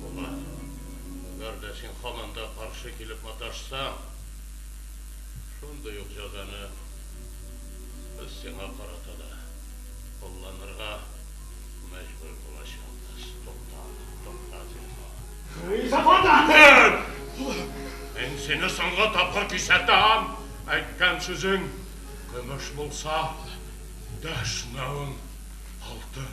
Була. Әгәр дә син һаман да каршы килеп маташсаң, шундый ук җәзаны без сиңа карата да кулланырга мәҗбүр булачакбыз. Тукта, тукта, зинһар. Һей, Сафардан! Тор! Мин сине соңгы тапкыр кисәтәм! Әйткән сүзең көмеш булса, дәшмәвең алтын!